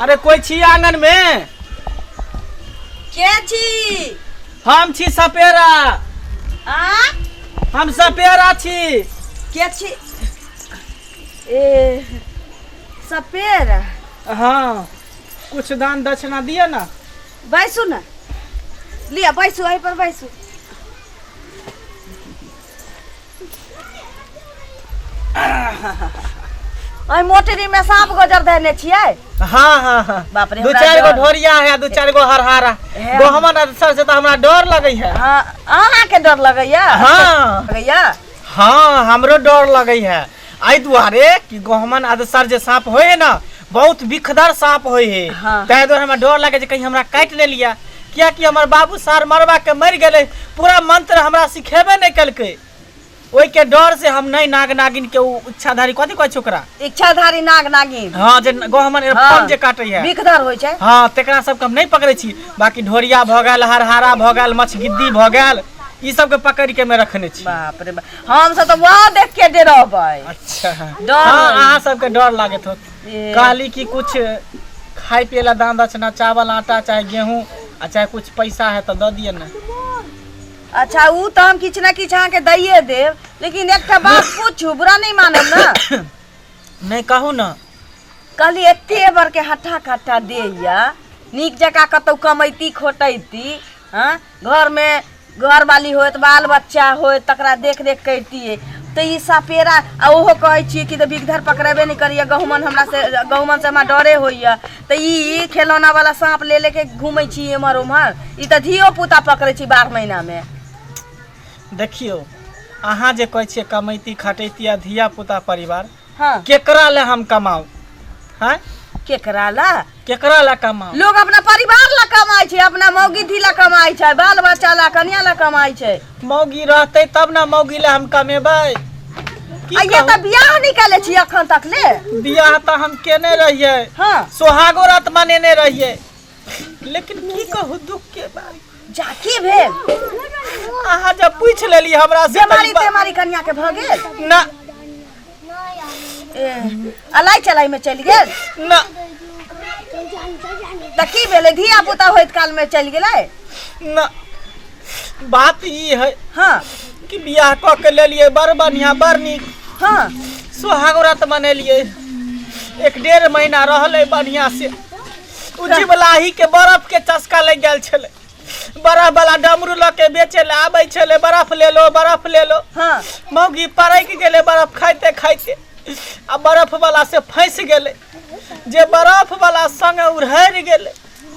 अरे कोई छी आंगन में के छी हम छी सपेरा आ हम सपेरा छी के छी ए सपेर हाँ कुछ दान दक्षिणा दिए ना बैसू ने लिया बैसू एहि पर बैसू अइ मोटरी में सांप गोजर देने छियै हाँ हाँ हाँ बाप रे, दू हमरा चार गो डर। ढोरिया है दू चार गो हरहारा हे। गहमन आर सर से तो हमरा डर लगे है हाँ, अहाँके डर लगैया हाँ लगैया हाँ हमरो डर लगे है आई दुआरे कि गहमन आदसर जे सांप होय है ना बहुत विखदर सांप होय है हाँ। ताहि दुआरे हमरा डर लगे जे कहीं हमरा काटि नहि लिया किया कि हमर बाबू सार मरबा के मरि गेलै पूरा मंत्र हमरा सिखेबे नहि केलकै ओहि के डर से हम नहि नाग नागिन के उ इच्छाधारी कथी कहै छै ओकरा इच्छाधारी नाग नागिन हाँ जे गहमन हाँ। एरपन जे काटै है विखदर होइ छै हाँ तेकरा सबके हम नहि पकड़ै छी बाकी ढोरिया भऽ गेल हरहारा भऽ गेल मछगिद्दी भऽ गेल ई सबके पकड़ि के मे रखने छी बाप रे बाप हम सब तऽ वहाँ देख के दे रहबै अच्छा हाँ डर अहाँ सबके डर लागत होत ए, कहली कि कुछ खाए पिए ला दान दक्षिणा चावल आटा चाहे गेहूँ आ चाहे कुछ पैसा है तो दऽ दिए ने अच्छा ऊ तऽ हम किछु ने किछु अहाँके दैये देब लेकिन एकटा बात पूछू बुरा नहि मानब ने नहीं कहू ना कहली एते बड़के हट्ठा कट्ठा देइया नीक जकाँ कतौ कमैती खोटैती हँ घरमे घरवाली होत बाल बच्चा होत तकरा देख देख करितियै तऽ ई सपेरा आ ओहो कहै छियै कि तऽ बिगधर पकड़ेबे नहि करैए गहुमन हमरा से गहुमन से हमरा डरे होइए तऽ ई खेलौना वाला साँप ले लेके घूमै छी एम्हर ओम्हर ई तऽ धियो पुता पकड़ै छी बारह महीनामे देखियौ अहाँ जे कहै छियै कमैती खटैती आ धिया पुता परिवार हाँ केकरा ले हम कमाऊ हैं केकरा ला केकरा ले कमाऊ लोग अपना परिवार ला कमाई छै अपना मौगिधी ला कमाई छै बाल बच्चा ला कन्या ला कमाई छै मौगी रहते तब ना मौगी ले हम कमेबै की आ ये कहू? तऽ बियाह निकाले छी अखन तक ले बियाह तऽ हम केने रहियै हाँ सोहागो रात मनेने रहियै लेकिन की कहू दुख के बात जा की भेल अहाँ जब पूछ लेली हमरा से बेमारी तेमारी कन्या के भ गेल ना अलाई चलाई में चल गेल ना त की भेले धिया पुता होइत काल में चल गेलै ना बात ई है हाँ कि बियाह क के लेलिए बड़ बढ़िया बड़ नीक हाँ सुहाग व्रत मनेलिए एक डेढ़ महीना रहले बढ़िया से जीवलाही के बर्फ के चस्का लग गया छले बर्फ वाला डमरू ल के बेचे ले आबे छले बर्फ ले लो बर्फ ले लो हाँ मौगी परक गेले बर्फ खाइते खाइते आ बर्फ वाला से फंस गेले जे बर्फ वाला संग उड़हर गेले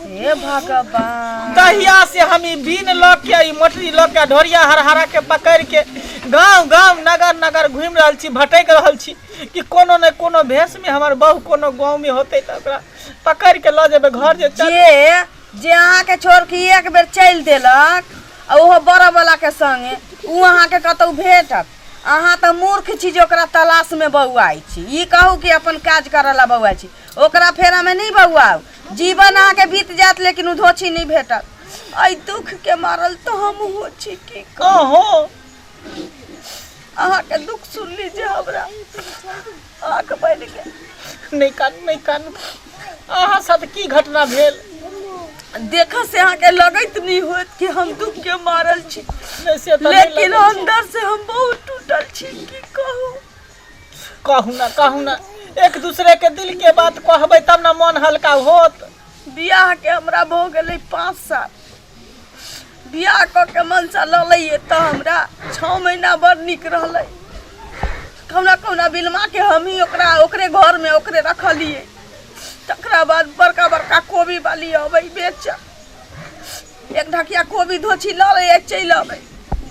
हे भगवान दहिया से हम ई बीन लऽ के ई मोटरी लऽ के ढोरिया हरहरा के पकड़ के गांव गांव नगर नगर घूमि रहल छी भटक रहल छी कि कोनो ने कोनो भेष में हमर बहू कोनो गांव में होते तऽ ओकरा पकड़ के लऽ जेबे घर जे चल जे जे अहाँके छोड़ के एक बेर चलि देलक आ ओहो बड़वला के संगे ऊ अहाँके कतहु भेटत अहाँ तऽ मूर्ख छी जे ओकरा तलाश में बौआइ छी ई कहू कि अपन काज करऽ ला बौआइ छी ओकरा फेरा में नहीं बौआउ जीवन अहाँके बीत जायत लेकिन ऊ धोछी नहीं भेटत एहि दुख के मारल तो हम हो छी की कहू अहो अहाँके दुख सुन लीजिए हमरा आँख बनि गेल नहि कानू नहि कानू अहाँ साथ की घटना भेल देख से अहाँके लगैत नहीं होत कि हम दुख के मारल छी से तो लेकिन अंदर से हम बहुत टूटल छी की कहू कहू ना कहू ना एक दूसरे के दिल के बात कहबे तब ना मन हल्का होत बियाह के हमरा भो गेले पाँच साल बियाह कऽ के मनसा ललैए तऽ हमरा छओ महीना बड़ नीक रहलै कहुना कहुना बिलमाके हमही ओकरा ओकरे घरमे ओकरे रखलियै तकरा बाद बड़का बड़का कोबी बाली अबै बेच एक ढकिया कोबी धोची लऽ लैए चलि अबै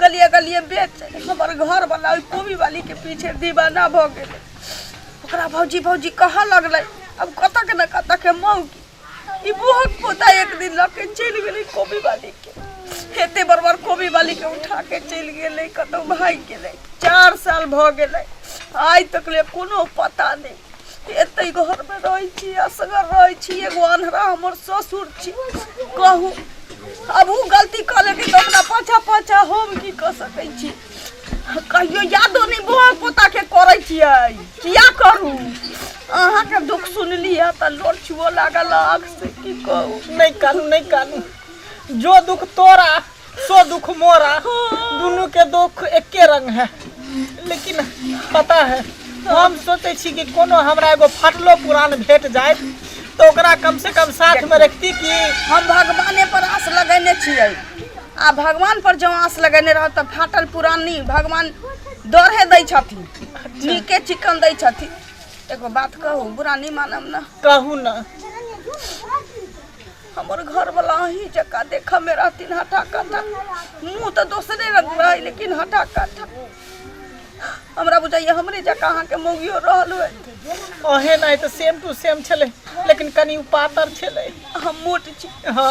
गलिए गलिए बेच हमर घरवला ओहि कोबी बालीके पीछे दीवाना भऽ गेलै ओकरा भौजी भौजी कहऽ लगलै अब कतक ने कतक मौगी ई बुहक पोता एक दिन लऽ के चलि गेलै कोबी वाली के एते बड़ बड़ कोबी वाली के उठा के चलि गेलै कतौ भागि गेलै चार साल भऽ गेलै आइ तक ले कोनो पता नहि एतै घरमे रहै छी असगर रहै छी एगो अन्हरा हमर ससुर छी कहू अब ओ गलती कऽ लेतै तऽ ओकरा पाछा पाछा हम की कऽ सकै छी कहियो यादो नहीं बह पोता के करे छिए किया करू अहा के दुख सुनली है त लोट छुओ लागल आग से की कहू नहीं करू नहीं करू जो दुख तोरा सो दुख मोरा दोनों के दुख एके रंग है लेकिन पता है हम सोचे छी कि कोनो हमरा एगो फटलो पुरान भेट जाए तो ओकरा कम से कम साथ में रखती कि हम भगवाने पर आस लगेने छियै आ भगवान पर जो आस लगेने रह तऽ फाटल पुरानी भगवान दौड़े दै छथिन नीके चिकन दै छथिन एगो बात कहू बुरा नहीं मानब ना कहू ना हमर घर वाला अही जका देख में रहथिन हटा कटा मुंह तो दोसरे रंग रहे लेकिन हटा कटा हमरा बुझाइए हमरे जकाँ अहाँके मौगियो रहल होय ओहे नहि तऽ सेम टू सेम छलै लेकिन कनि ओ पातर छलै हम मोट छी हँ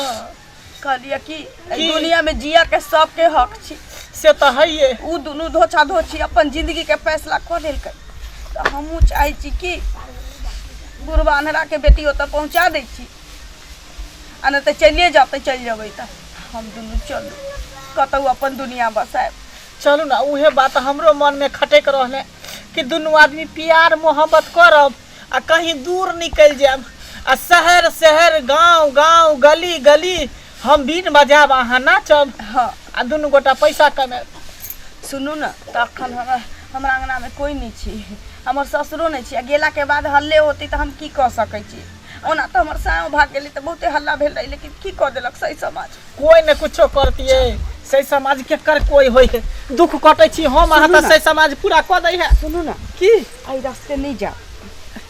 कहलियै कि एहि की? दुनिया में जिया के सबके हक छी से तऽ हइये उ दुनू धोछा धोछी अपन जिंदगी के फैसला कऽ लेलकै तऽ हमहूँ चाहै छी कि बुढ़बा अन्हरा के बेटी ओतऽ पहुँचा दै छी आ नहि तऽ चलिए जाते चलि जेबै तऽ हम दुनू चलू कतहु अपन दुनिया बसायब चलू ने उहे बात हमरो मनमे खटैक रहलै कि दुनू आदमी प्यार मोहब्बत करब आ कहीं दूर निकलि जायब आ शहर शहर गाँव गाँव गली गली हम बीन बजायब अहाँ नाचब हँ आ दुनू गोटा पैसा कमायब सुनू ने तऽ अखन हमरा हमरा अङ्गनामे कोइ नहि छै हमर ससुरो नहि छै आ गेलाके बाद हल्ले होतै तऽ हम की कऽ सकै छी ओना तऽ हमर सायो भाग गेलै तऽ बहुते हल्ला भेल रहै लेकिन की कऽ देलक सही समाज कोई ने कुछो करतिए सही समाज के कर कोई होय है दुख कटे छी हम अहाँ तऽ सही समाज पूरा कऽ दै है सुनू ना की आई रास्ते नहीं जाओ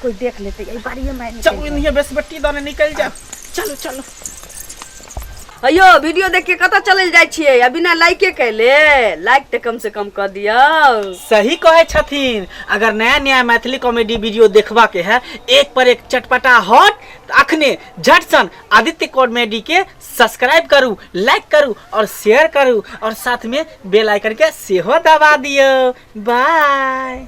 कोई देख लेते आई बाड़िए में चलू इन्हीं बेस बेटी दने निकल जाओ चलो चलो अयो वीडियो देख के कतऽ चलल जाइ छियै आ बिना लाइके कैले लाइक तऽ कम से कम कऽ दियौ सही कहे छथिन अगर नया नया मैथिली कॉमेडी वीडियो देखबा के है एक पर एक चटपटा हॉट तो अखने झट सन आदित्य कॉमेडी के सब्सक्राइब करू लाइक करू और शेयर करू और साथ में बेल आइकन के सेहो दबा दियो बाय